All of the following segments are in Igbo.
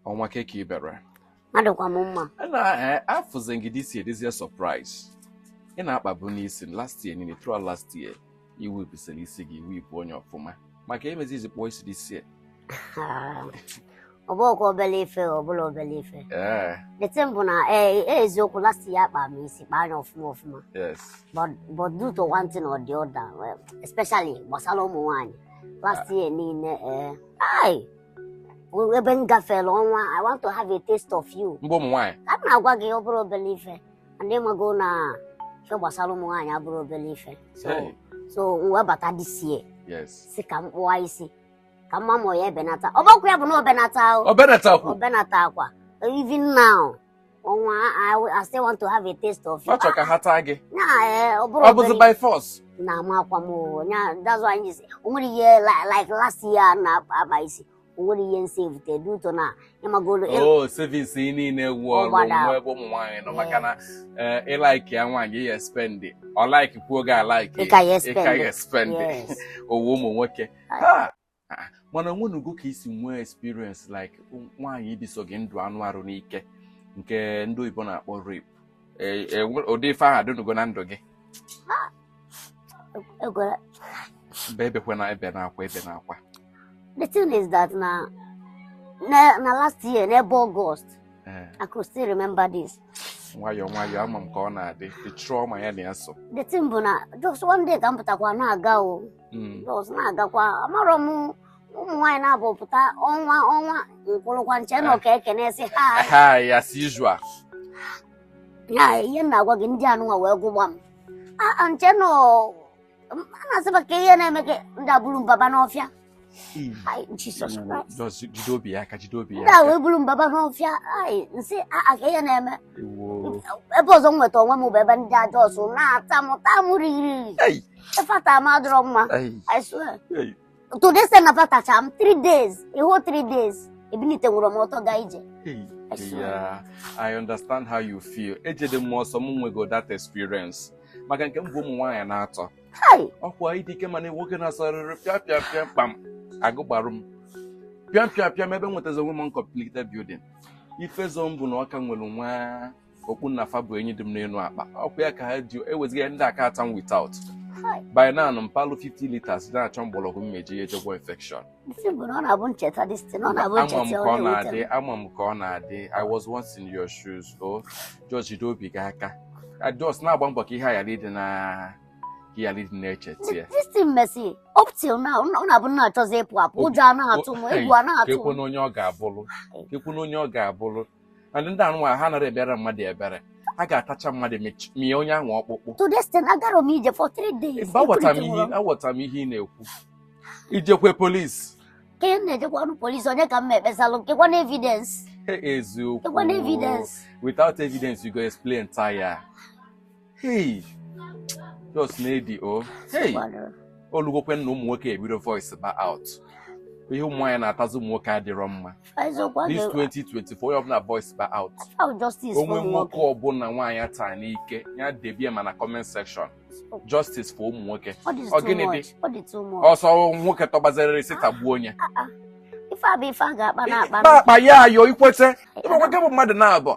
ọnwa kee ka i mere adịkwa m mma na eh, afụzi m gị this year dịzie surprise ị na-akpabu n'isi last year niile throughout last year iwu ibisiri isi gị iwu ibu onye ọfụma maka emezi i ji kpụọ isi this year ọ bụrọkwa obere ife ọ bụrọ obere ife ee the thing bụ na ee e, eziokwu last year akpa m isi kpaa anya ọfụma ọfụma yes but but due to one thing or the other well, especially gbasara ụmụ nwaanyị last year niile ee ai ebe m gafere ọnwa i want to have a taste of you mbụ ụmụ nwaanyị ka m na-agwa gị ọ bụrọ obere ife and ị mago na ihe gbasara ụmụ nwaanyị abụrọ obere ife so Hey. so m wee bata this year yes sị ka m kpụwa isi ka m ma ma ọ ya-ebenata ọ bụkwa ya bụ na o benatarọ o benatakwu o benatakwa even now ọnwa I, will- I still want to have a taste of you. ọ chọrọ ka ha taa gị Na eh, ọ bụrọ ọ bụzi obere- by force na amakwa m o. Nya- that's why I say o nwere ihe li- like last year na-akpa isi o nwere ihe m saveute dị ụtọ na ịmagolo o savings gị niile wụ Ọ ọrụ gbada. nwa ebe ụmụ nwaanyị nọ maka na eh, ị like ya nwaanyị ị ya spend ọ like kwuo gị a like Ị ka ya spend. ị ka ya spend Yes. ọ wụ ụmụ nwoke Ha! Ah, mana o nwenugo ka i si nwee experience like nwaanyị ibiso gị ndụ anụ arụ n'ike nke ndị oyibo na-akpọ rape E- e- nwe- ụdị ife ahụ adịnugo na ndụ gị Egwere. mba ebekwana ebena akwa ebena akwa The thing is that na na, na last year n'ebe August Eh, I could still remember this. nwayọọ nwayọọ ama m ka ọ na-adị the trauma ya na ya so The thing bụ na just one day ka m pụtakwa na-aga o mm. just na-agakwa amarọ m ụmụ nwaanyị naabọ pụta ọnwa ọnwa m kwụrụkwa m che na ọ ka e kenesi ha hi as usual ya ihe m na-agwa gị ndị anụnwa wee gụgba m a m che na a na-asịba kee ihe na-eme ka ndị a buru m baba n'ọfịa Mm. Ai, Jesus Christ. Jide obi gị aka jide obi gị. Ndị a wee buru m baba n'ọfịa. Ai, m sị a kee ihe na-eme. ebe ọzọ m nweta onwe m bụ ebe ndị a just na-ata m taa m riri fa ta m adịrọ mma I swear to the extent na fa tacha m 3 days a whole 3 days ebinitenwurọ m ọtọ gaa ije Yeah, I understand how you feel. Ejede m ọsọ m nwego that experience maka nke m bụ ụmụ nwaanyị naatọ ọkwa ịdị ike mana nwoke na-asọrịrị pịa pịa pịa kpam agụgbarụ m pịa pịa pịa m ebe m nwetazi onwe m uncompleted building ife zọ m bụ na ọ ka nwere nwa okpu nna fa bụ enyi dị m n'elu akpa ọkwa ya ka ha ji e wezuga ya ndị a ka-ata m without by now m palụ 50 liters na-achọ mgbọrọgwụ m ya-eji eje gwọ infection ama m ka ọ na-adị ama m ka ọ na-adị i was once in your shoes o oh, George jide obi gị aka just na-agba mbọ ka ihe a ghara ịdị na ka ị ghara ịdị na-echeta ya up till now ọ na-abụ m na-achọzi ịpụ apụ ụjọ ana-atụ m egwu ana-atụ m onye ọ ga-abụrụ kekwanụ onye ọ ga-abụrụ and ndị anụnwa ha anara ebere mmadụ ebere ha ga-atacha mmadụ mie onye ahụ ọkpụkpụ to this thing agarọ m ije for three days aghọtara m ihe ị na-ekwu i jekwe police ka ị na-ejekwarọ police onye ka m ekpesalụ kekwanụ evidence eziokwu kekwanụ evidence without evidence you go explain tire Hey, just nedi o. Oh. Hey, olugokwe na ụmụ nwoke ebido voice ba out. Ihe ụmụ nwaanyị na-atazi ụmụ nwoke adịrọ mma. This 2024 onye ọbụla voice ba out. O nwee nwoke ọbụla nwaanyị taa n'ike ya debie ma na comment section. Justice for ụmụ nwoke. Ọ gịnị dị? Ọsọ nwoke tọgbazerịrị sị tagbuo onye. Ah, ah. Ife a bụ ife a ga-akpa na-akpa. Akpa ya ayo ikwete. Ịmakwa nwoke bụ mmadụ na-abụ.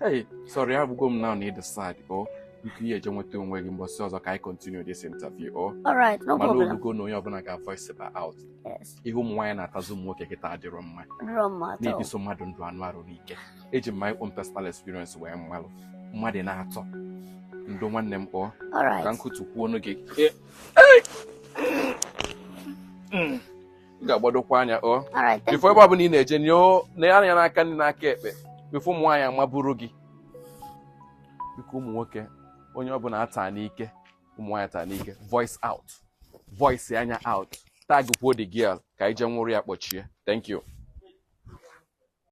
Hey, sorry, abụgo m now need the side o biko ị jee nweta onwe gị mbọsị ọzọ ka anyị continue this interview o Alright, no problem. olugo na onye ọbụla ga-voice ba out Yes, ihe ụmụ nwaanyị na-atazi ụmụ nwoke kịta adịrọ mma no matter. na-ebiso mmadụ ndụ anụ arụ n'ike eji m my own personal experience wee malụ mmadụ n'atọ ndo nwanne m kpọọ ka Alright. nkụtu kwuo ọnụ gị ị ga-agbadokwa anya o before ebe ọbụla ị na-eje nee anya n'aka nri n'aka ekpe before ụmụ nwaanyị amaburu gị biko ụmụ nwoke onye ọbụla a taa n'ike ụmụ nwaanyị taa n'ike voice out voice anya out tagkwuo the girl ka anyị je nwụrụ ya kpọchie thank you